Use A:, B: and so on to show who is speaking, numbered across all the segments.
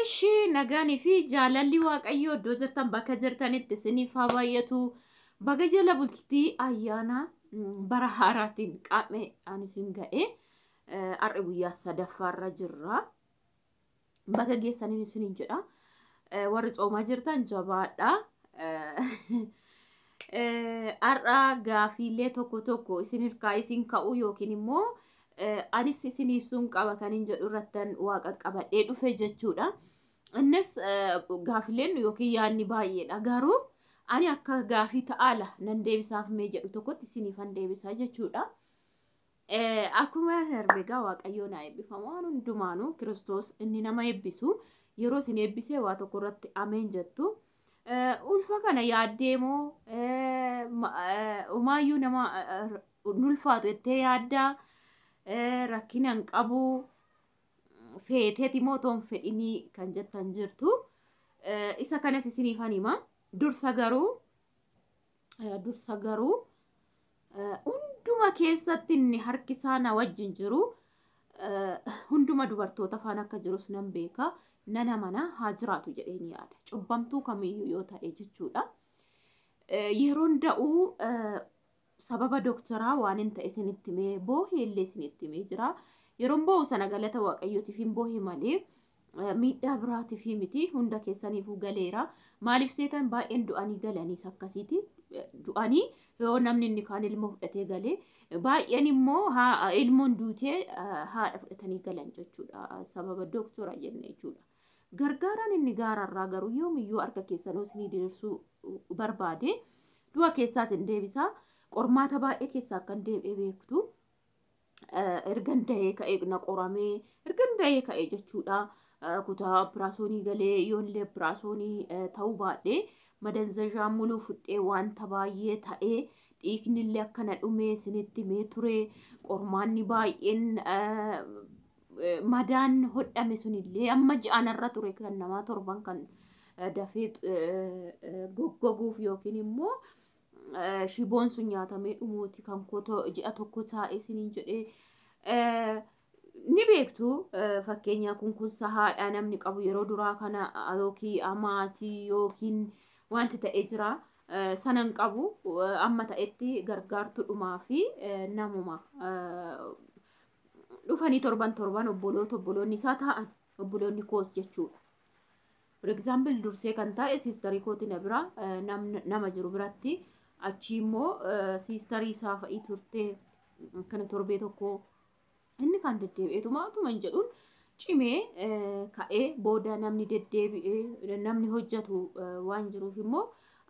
A: Ishi nagaanii fi jaalalli waaqayyoo iddoo jirtan bakka jirtanitti isiniif haa baay'atu. Baga jala bultii ayyaana mm, bara haaraatiin qaamee aan isin ga'e. Eh, Har'a guyyaa sadaffaarra jirra. Baga geessaniin isiniin jedha. Eh, Warri tsoomaa jirtan jabaadha. Eh, Har'a gaafiilee tokko tokko isin irkaa isin ka'u yookiin immoo anis isin ibsuun qaba kan hin jedhu irrattan waa qaqqabadhee dhufe jechuudha. Innis gaafileen yookiin yaadni baay'eedha garuu ani akka gaafii ta'aala nan deebisaaf mee jedhu tokkotti isiniifan deebisa jechuudha. Akkuma darbe egaa Waaqayyoon haa eebbifamu waan hundumaanuu Kiristoos inni nama eebbisu yeroo isin eebbisee waa tokko irratti ameen jettu. Ulfa kana yaaddee moo umaayyuu nama ulfaatu jettee yaaddaa rakkina hin qabu feeteeti moo toon fedhinii kan jettan jirtu. Isa kanas isiniif hima. Dursa garuu dursa garuu hunduma keessatti inni harki isaa na wajjin jiru hunduma dubartoota faana akka jirus nan beeka nan amana haa jiraatu jedheen yaada cubbamtuu kamiyyuu yoo ta'e jechuudha. Yeroon da'uu sababa dooktaraa waan hin ta'e isinitti mee boohee illee isinitti mee jira. Yeroon boohu sana galata waaqayyootiif hin boohe malee miidhaa biraatiifii miti hunda keessaniifuu galeera maaliif seetan baay'een du'anii galaniis akkasiiti du'anii yoo namni inni kaan ilmoo fudhatee galee baay'een immoo haa- ilmoon duutee ah, haadha fudhatanii galan jechuudha sababa dooktora jenne jechuudha gargaaraan inni gaararraa garuu yoomiyyuu harka keessanuu isinii diriirsuu barbaade du'a keessaas hin deebisaa qormaata baay'ee keessaa akka hin deebi'e beektu ergan dahee ka'ee na qoramee ergan dahee ka'ee jechuudha. Kutaa operaasyoonii galee yoollee operaasyoonii ta'uu baadhee madanzazhaa muluu fudhee wanta baay'ee ta'ee dhiignillee akkana dhumee isinitti mee ture qormaanni baay'een madaan hodhame sunillee amma ji'anarra ture kan namaa torban kan dafee goggoguuf yookiin immoo shiboon sun nyaatamee dhumuuti kan koo ji'a tokko taa'e isiniin jedhee ni beektu fakkeenyaa kun kun sahaadha namni qabu yeroo duraa kana yookiin amaatii yookiin wanti ta'e jira sanan qabu amma ta'etti gargaartudhumaa fi namuma dhufanii torban torban obboloota obboloonni isaa taa'an obboloonni koos jechuudha. For example dursee kan taa'e sister kooti na bira nama jiru biratti achii immoo sister isaa fa'i turte akkana torbee tokko inni kan deddeebi'eetuma utuma hin jedhuun cimee ka'ee booda namni deddeebi'ee namni hojjetu waan jiruuf immoo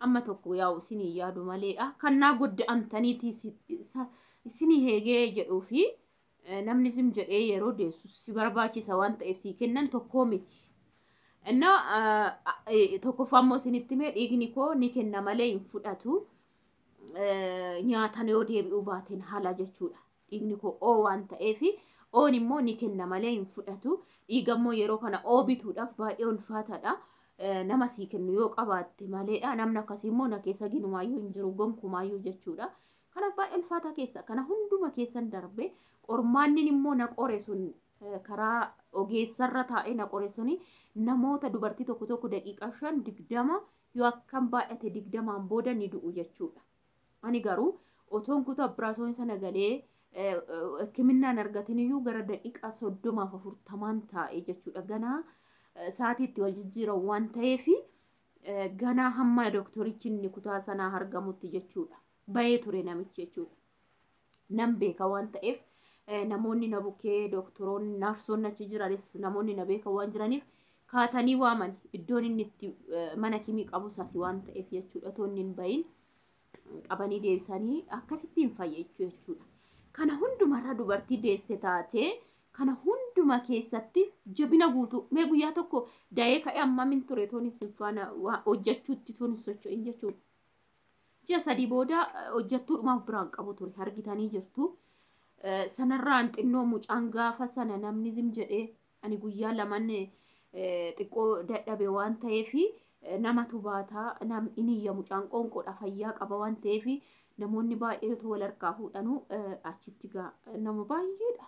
A: amma tokko yaa'u isinii yaadu maleedha. Kan naa godda'amtaniiti isinii heegee jedhuu fi Namni zim jedhee yeroo deessu si barbaachisa waan ta'eef sii kennan tokkoo miti. Inna tokkoffaa immoo isinitti mee dhiigni koo ni kenna malee hin fudhatu. Nyaatan yoo deebi'uu baateen haala jechuudha. Dhiigni koo oo waan ta'eef oon immoo ni kenna malee hin fudhatu. Dhiiga immoo yeroo kana oo bituudhaaf baay'ee ulfaataadha. Nama sii kennu yoo qabaatte maleedha. Namni akkasii immoo na keessa ginumaayyuu hin jiru gonkumaayyuu jechuudha. Kanaaf baay'ee ulfaataa keessa kana hunduma keessan darbe qormaannin immoo na qore sun karaa ogeessarra taa'ee na qore suni namoota dubartii tokko tokko daqiiqaa shan digdama yoo akkam baay'ate digdamaan booda ni du'u jechuudha. Ani garuu otoon kutaa operaasyoon sana galee hikiminnaan argatin iyyuu gara daqiiqaa soddomaaf afurtamaan taa'e jechuudha. Ganaa sa'aatii itti wal jijjiiran waan ta'eef Ganaa hamma doktorichi inni kutaa sanaa argamutti jechuudha. Bayee ture namichi jechuudha. Nan beeka waan ta'eef namoonni na bukkee doktoroonni naarsoonni achi jiranis namoonni na beeka waan jiraniif kaatanii waaman iddoon inni itti mana kimii qabus asi waan ta'eef jechuudha toonni hin bayin. qabanii deebisanii akkasitti hin fayyachuu jechuudha. Kana hundumarra dubartii deesse taatee kana hunduma keessatti jabina guutuu mee guyyaa tokko da'ee ka'e amma min ture toon isin faana waa hojjechuutti toon hin socho'in jechuudha. Ji'a sadii booda eh, hojjettuudhumaaf biraan qabu ture argitanii jirtu. Eh, Sanarraan xinnoo mucaan gaafa sana namni zim jedhee Ani guyyaa laman xiqqoo dadhabe waan ta'eef namatu baata nam in iyya mucaan qoonqoodha fayyaa qaba waan ta'eef namoonni baay'een otoo wal harkaa fuudhanuu eh, achitti gaa nama baay'eedha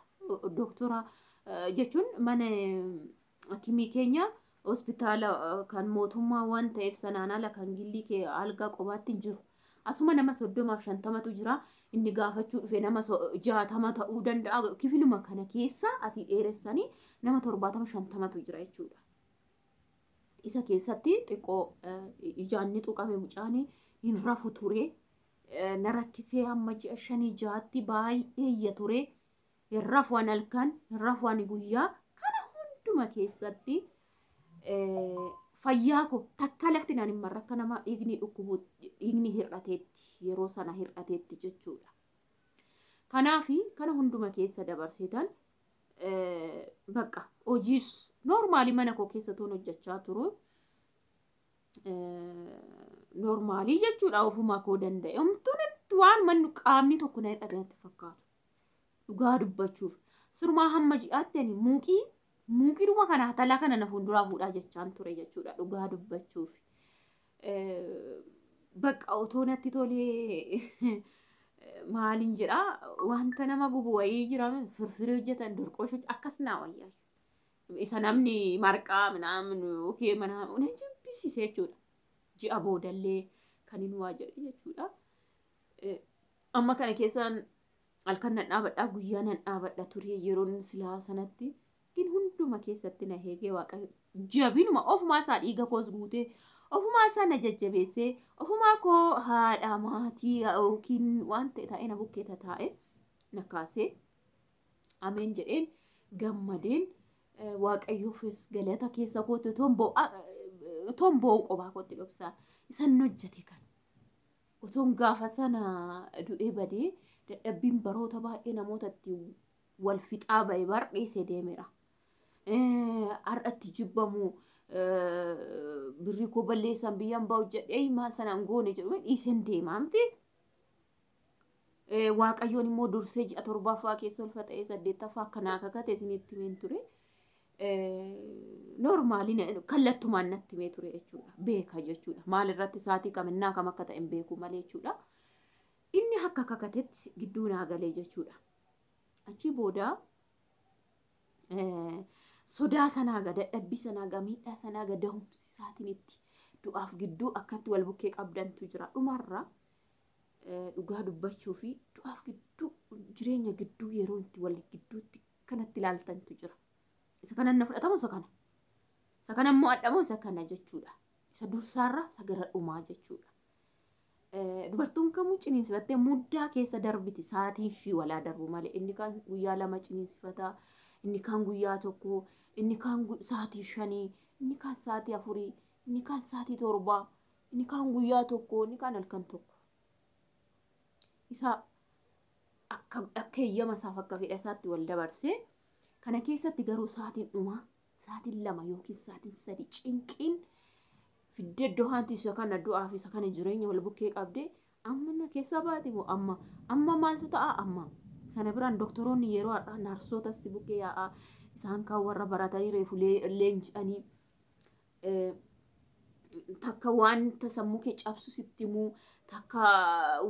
A: doktora eh, jechuun mana eh, hakimii keenya hospitaala kan mootummaa waan ta'eef sanaan ala kan gillii kee algaa qobaatti hin jiru. Asuma nama soddomaaf shantamatu jira. Inni gaafachuu dhufe nama jaatama ta'uu danda'a. Kifiluma kana keessa asii dheeressanii nama torbaatama shantamatu jira jechuudha. Isa keessatti xiqqoo ijaan ni tuqame mucaan hin rafu ture. Na rakkisee hamma ji'a shanii jaatti baay'ee iyya ture. hin rafu ani halkan hin rafu ani guyyaa kana hunduma keessatti eh, fayyaa koo takka lafti naan hin marre akka nama dhiigni dhukkubu dhiigni hir'ateetti yeroo sana hir'ateetti jechuudha. Kanaafi kana hunduma keessa dabarsitan eh, bakka hojiis noormaali mana koo keessa tuun hojjechaa turu. Noormaalii jechuudha ofuma koo danda'e. Omtuun waan manni qaamni tokko na hir'ate natti fakkaatu. Dhugaa dubbachuuf. Sirumaa hamma ji'aatti ani muuqii muuqiidhuma kana hatalaa kana na fuulduraa fuudhaa jechaan ture jechuudha dhugaa dubbachuuf. Bakka otoo natti tolee maaliin jedhaa wanta nama gubu wayii jira firfirii hojjetan durqoshuu akkas naa wayyaa. Isa namni marqaa minaamin yookiin mana na jibbisiise jechuudha. Ji'a boodallee kan hin waa jedhe jechuudha. Amma kana keessa halkan nan dhaabadha guyyaa nan dhaabadha ture yeroon silaa sanatti gin hunduma keessatti na heegee waaqayyo jabinuma ofumaa isaa dhiiga koos guutee ofumaa isaa na jajjabeessee ofumaa koo haadha maatii yookiin waan ta'e taa'ee na bukkee tataa'e na kaasee ameen jedheen gammadeen eh, waaqayyoofis galata keessa kootti otoon boo'a- otoon boo'u qophaa kootti dhoksaa isan hojjete kan Otoon gaafa sana du'ee badee dadhabbiin baroota baay'ee namoota itti wal fixaa ba'e bar dhiisee deemeera. Har'atti jibbamu birrii koo balleessan biyyaan ba'u jedhee maal sanaan goone jedhu dhiiseen deemaa miti. Eh, Waaqayyoon immoo dursee ji'a torbaffaa keessa ulfa ta'ee saddeettaffaa akka naa kakate isinitti himeen ture. Noormaali kallattumaan natti himee ture jechuudha. Beeka jechuudha. Maal irratti saatii kam innaa kam akka ta'e hin beeku malee jechuudha. Inni akka kakatetti gidduu naa galee jechuudha. Achi booda eh, sodaa sanaa ga dadhabbii sanaa ga miidhaa sanaa ga dahumsi isaatiin itti du'aaf gidduu akkatti wal bukkee qabdantu jira. Dhumarra dhugaa dubbachuu fi du'aaf gidduu jireenya gidduu yeroo itti wal gidduutti kanatti ilaaltantu jira. Isa kanan na fudhatamu isa kana. Isa kana immoo adhamu isa kana jechuudha. Isa dursaarra isa gara dhumaa jechuudha. Dubartoon kamuu ciniinsifattee muddaa keessa darbiti sa'aatiin ishii walaa darbu malee inni kaan guyyaa lama ciniinsifataa inni kaan guyyaa tokko inni kaan sa'aatii shanii inni kaan sa'aatii afurii inni kaan sa'aatii torbaa Inni kaan guyyaa tokko, inni kaan halkan tokko. Isa akka akka eeyyama isaaf akka fedha isaatti wal dabarsee kana keessatti garuu saatiin dhumaa saatiin lama yookiin saatiin sadi cinqiin fiddee iddoo haanti isa kana du'aa fi isa kana jireenya wal bukkee qabdee amma na keessa baati moo amma amma maaltu ta'a amma sana biraan doktoroonni yeroo har'aa naarsoota si bukkee yaa'aa isaan kaan warra baratanii reefu leenji'anii takka wanta sammuu kee cabsu sitti himuu takka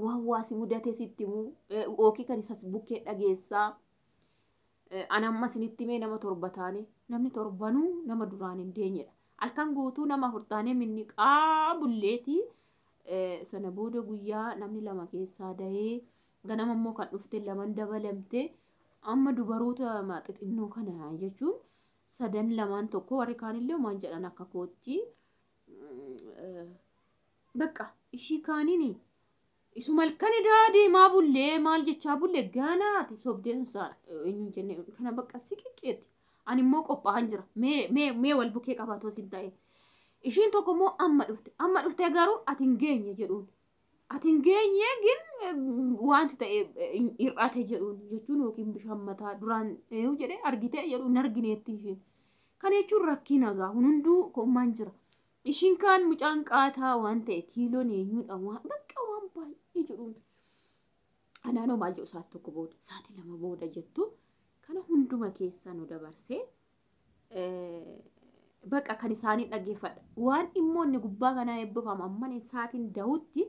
A: waan waa si mudatee sitti himuu yookiin kan isas bukkee dhageessaa an amma isinitti mee nama torba taane namni torbanuu nama duraan hin deenyedha halkan guutuu nama afur taanee minniqaa bulleetii sana booda guyyaa namni lama keessaa dahee ganama immoo kan dhufte laman dabalamte amma dubaroota xixinnoo kana jechuun sadan lamaan tokko warri kaanillee maan jedhan akka kootti bakka ishii kaanini isuma halkan edaa deemaa bullee maal jechaa bulle gaanaati sobdeen saan eenyuun jenne kana bakka siqiqqeetti ani immoo qophaa'an jira mee mee mee wal bukee qabaatoo sin ta'e ishiin tokko immoo amma dhufte amma dhufte garuu ati hin geenye jedhuun ati hin geenye gin wanti ta'e hir'ate jedhuun jechuun yookiin bishaan mataa duraan eeyuu jedhee argitee jedhu hin argineetti isheen. Kana jechuun rakkii nagaa kun hunduu koommaan jira. Ishiin kaan mucaan qaataa waan ta'e kiiloon eenyuudha waan bakka waan baay'ee jedhuun. Anaanoo maal jedhu sa'aatii tokko booda sa'aatii lama booda jettu kana hunduma keessa nu dabarsee baqa kan isaanii dhaggeeffadha. Waan immoo inni gubbaa kanaa eebbifamu amman isaatiin dahutti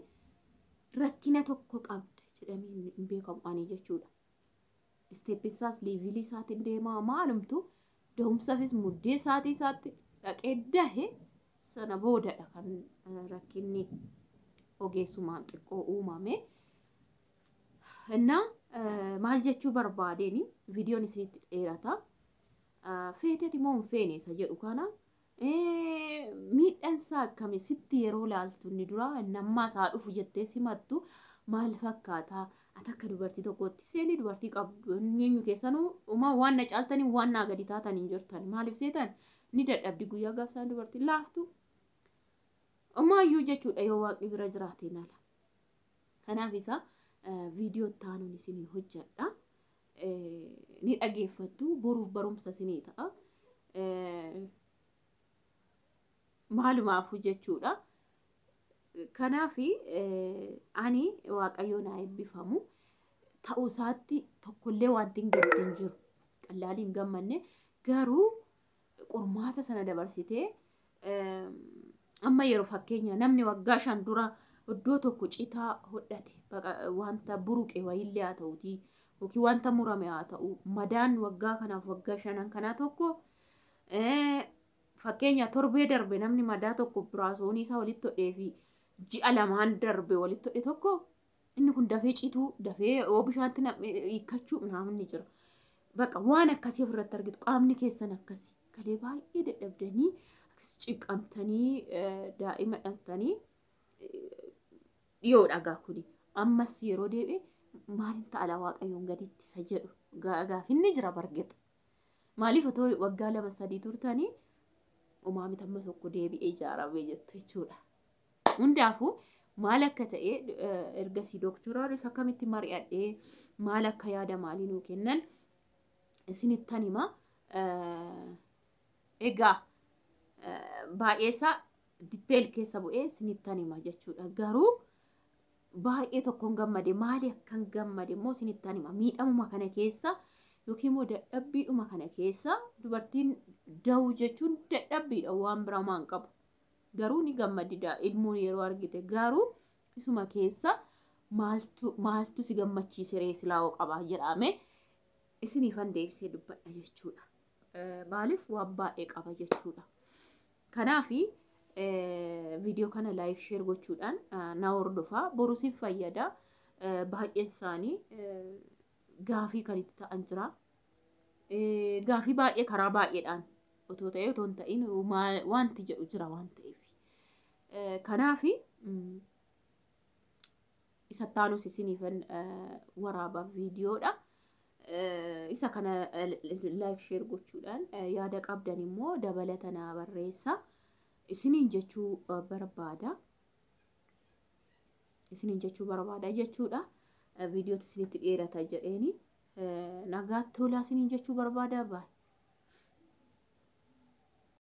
A: rakkina tokko qabda jedhamee hin beekamu ani jechuudha. Isteeppiin isaas liivilii isaatiin deemaa maalumtu dahumsafis muddee isaatii isaatti dhaqee dahe sana boodadha kan rakkinni ogeessumaan xiqqoo uumame. Innaa maal jechuu barbaadeen viidiyoon isinitti dheerata. ah, feeteti moo hin feene isa jedhu kana eh, miidhaan isaa akkami sitti yeroo laaltu inni dura inni ammaa isaa dhufu jettee simattu maal fakkaata ati akka dubartii tokkootti seelii dubartii qabdu eenyu keessanuu uma waan na caaltanii waan naa gadi taatan hin jirtan maaliif seetan ni dadhabdi guyyaa gaafsaan dubartii laaftu umaayyuu jechuudha yoo waaqni bira jiraateen ala kanaaf isa eh, viidiyoo taanuun isinii hojjedha ni dhageeffattu boruuf barumsa isinii ta'a. Maalumaafuu jechuudha. Kanaaf ani waaqayyoo naa eebbifamu ta'uu isaatti tokkollee wanti hin gaddu hin jiru. Qallaalii hin gammanne garuu qormaata sana dabarsitee amma yeroo fakkeenya namni waggaa shan dura iddoo tokko citaa hodhate wanta buruqe wayillee haa ta'uutii yookiin wanta murame haa ta'u madaan waggaa kanaaf waggaa shanan kanaa tokko fakkeenya torbee darbe namni madaa tokko biraasoonii isaa walitti hodhee fi ji'a lamaan darbe walitti hodhe tokko Inni kun dafee cituu, dafee yoo bishaatti nam'e hiikkachuu naamin ni jira. Baqa waan akkasii ofirratti argitu qaamni keessan akkasi. Kalee baay'ee dadhabdanii akkas ciqqamtanii eh, daa'ima dhaltanii dhiyoo dhagaa kuni. Ammas yeroo deebi'e maaliin ta'ala waaqayyoon gaditti isa jedhu gaa- gaafinni jira bargexa. Maaliif otoo waggaa lama sadii turtanii umaamita amma tokko deebi'ee ijaaramee jettu jechuudha. Hundaafuu maal akka ta'e ergasii dooktoraanis akkamitti mari'adhee maal akka yaada maalii nuu kennan isinittan hima. Egaa baay'eesaa ditteel keessa bu'ee isinittan hima jechuudha. Garuu baay'ee tokkoon gammade maali akkan gammade immoo isinittan hima. Miidhamuma kana keessa yookiin immoo dadhabbiidhuma kana keessa dubartiin da'uu jechuun dadhabbiidha waan biraa waan qabu. Garuu ni gammadida ilmoo yeroo argite garuu isuma keessa maaltu maaltu si gammachiise ree silaa hoo qabaa jedhaame isiniifan deebisee dubbadha jechuudha. Maaliif waan baay'ee qaba jechuudha. Kanaafi viidiyoo kana laayik sheer gochuudhaan na hordofaa boru siif fayyada baay'een isaanii gaafii kan itti ta'an jira gaafii baay'ee karaa baay'eedhaan otoo ta'ee otoo hin ta'in wanti jedhu jira waan ta'eef. Kanaaf isa taanus isiniif waraaba viidiyoodha. Isa kana laayik sheer gochuudhaan yaada qabdan immoo dabalata naa barreessa. Isiniin jechuu barbaada. Isiniin jechuu barbaada jechuudha. Viidiyootu isinitti dheerata jedheeni. Nagaatti tolaa isiniin jechuu barbaada baay.